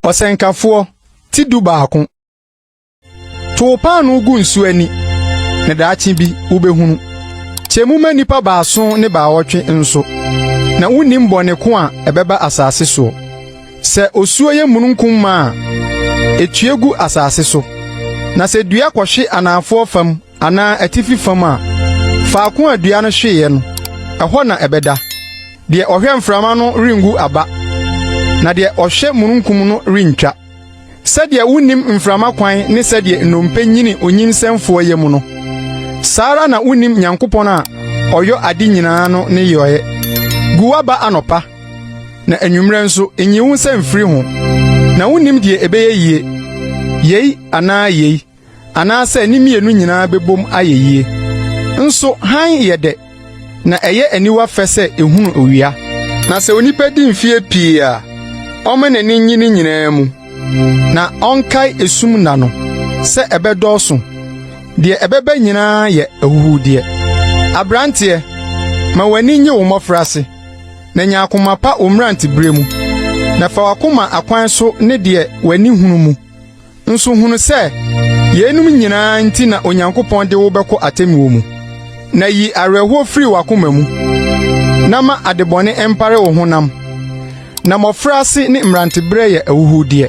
ɔsɛnkafoɔ ti du baako to wo paanoo gu nsu ani na daakye bi wobɛhunu kyɛ mu ma nnipa baason ne baawɔtwe nso na wonnim bɔne ko a ɛbɛba asase soɔ sɛ osuo yɛ mununkum ma a ɛtue gu asase so na sɛ dua kɔhwe anaafoɔ fam anaa atifi fam a, faako a dua no hweeɛ no, ɛhɔ na ɛbɛda. Deɛ ɔhwɛ mframa no rengu aba, na deɛ ɔhwɛ mununkum no rentwa. Sɛdeɛ wonnim mframa kwan ne sɛdeɛ nnompe nyini onyinsɛmfoɔ yam no, saa ara na wonnim Nyankopɔn a ɔyɔ ade nyinaa no ne yɔeɛ. Gu w'aba anɔpa, na anwummerɛ nso nyi wo nsa mfiri ho, na wonnim deɛ ɛbɛyɛ yie, yei anaa yei. anaasɛ ne mmienu nyinaa bɛbom ayɛ yie. Nso hann yɛ dɛ, na ɛyɛ aniwa fɛ sɛ ɛhunu owia. Na sɛ onipa di mfeɛ pii a, ɔmma n'ani nnye ne nyinaa mu, na ɔnkae esum nna no sɛ ɛbɛdɔɔso. Deɛ ɛbɛba nyinaa yɛ ahuhudeɛ. Aberanteɛ, ma w'ani nnye wo mmɔfraase, na nya akoma pa wo mmeranteberɛ mu, na fa w'akoma akwan so ne deɛ w'ani hunu mu. Nso hunu sɛ yeinom nyinaa nti na Onyankopɔn de wo bɛkɔ atemmuo mu, na yi awerɛhoɔ firi w'akoma mu, na ma adebɔne mpare wo honam, na mmɔfraase ne mmeranteberɛ yɛ ahuhudeɛ.